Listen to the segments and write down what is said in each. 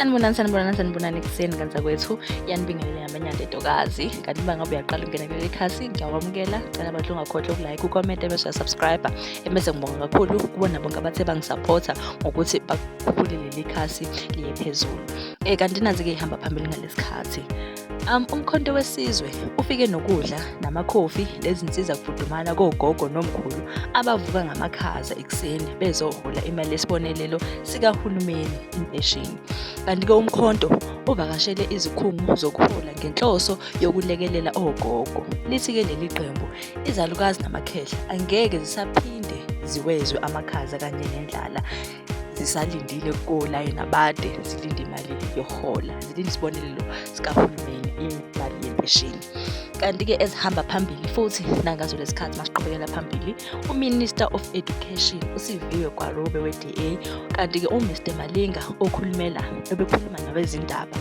sanibonani sanibonani sanibonani ekuseni kanti kwethu yanibingelele ngamanyanda entokazi kanti uma ngabe uyaqala ukungena kuleli khasi ngiyakwamukela cela abantu ungakhohlwa ukulike ukomenta ebese uyasubscribe ebese ngibonga kakhulu kubona bonke abathe bangisapotha ngokuthi bakhuphule leli khasi liye phezulu um kanti nazi-ke ihamba phambili ngalesi khathi Um, umkhonto wesizwe ufike nokudla namakhofi nezinsiza kufudumala kogogo nomkhulu abavuka ngamakhaza ekuseni bezohola imali yesibonelelo sikahulumeni impesheni kanti-ke umkhonto uvakashele izikhungo zokuhola ngenhloso yokulekelela ogogo lithi-ke leli qembu izalukazi namakhehla angeke zisaphinde ziwezwe amakhaza kanye nendlala zisalindile kolayini abade zilinde imali yokuhola zilinde isibonelelo sikahulumeni imali yempesheni kanti-ke ezihamba phambili futhi nangazo lesikhathi masiqhubekela phambili uminister of education usiviwe gwarobe we-da kanti-ke umr malinga okhulumela obekhuluma nabezindaba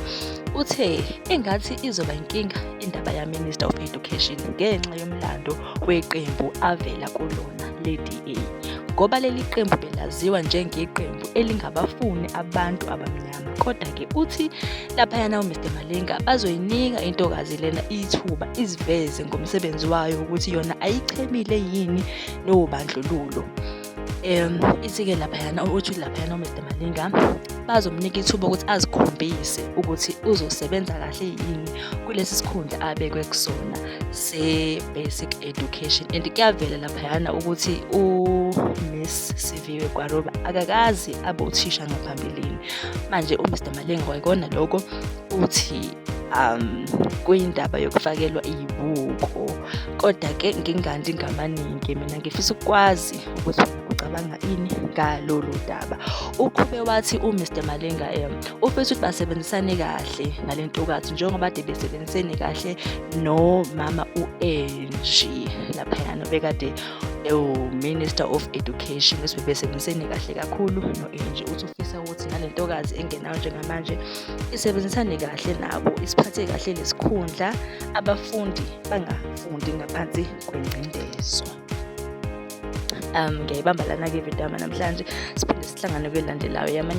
uthe engathi izoba inkinga indaba yaminister of education ngenxa yomlando kweqembu avela kulona le-DA ngoba leli qembu belaziwa njengeqembu elingabafuni abantu abamnyama kodwa ke uthi laphayana uMr Malinga bazoyinika intokazi lena ithuba iziveze ngomsebenzi wayo ukuthi yona ayichemile yini nobandlululo um ithi-ke laphayana uthi laphayana umr malinga bazomnika ithuba ukuthi azikhombise ukuthi uzosebenza kahle yini kulesi sikhundla abekwe kusona se-basic education and kuyavela laphayana ukuthi umiss siviwe kwaroba akakazi abe uthisha ngaphambilini manje umr malinga kwayikona lokho uthi um kuyindaba yokufakelwa iyibuko kodwa ke ngingandi ngamaningi mina ngifisa ukwazi ukuthi ucabanga ini ngalolu daba uqhube wathi uMr Malenga em ufisa ukuthi basebenzisane kahle nale ntokazi njengoba de besebenzisene kahle nomama u-Angie lapha nobekade ewu-minister of education ukuthi bebesebenzisene kahle kakhulu no-Angie uthi ufisa ukuthi nale ntokazi engenayo njengamanje isebenzisane kahle nabo isiphathe kahle lesikhundla abafundi bangafundi ngaphansi kwengcindezwa um ngiyayibamba lana-ke ividama namhlanje siphinde sihlangane kwelandelayo yamanye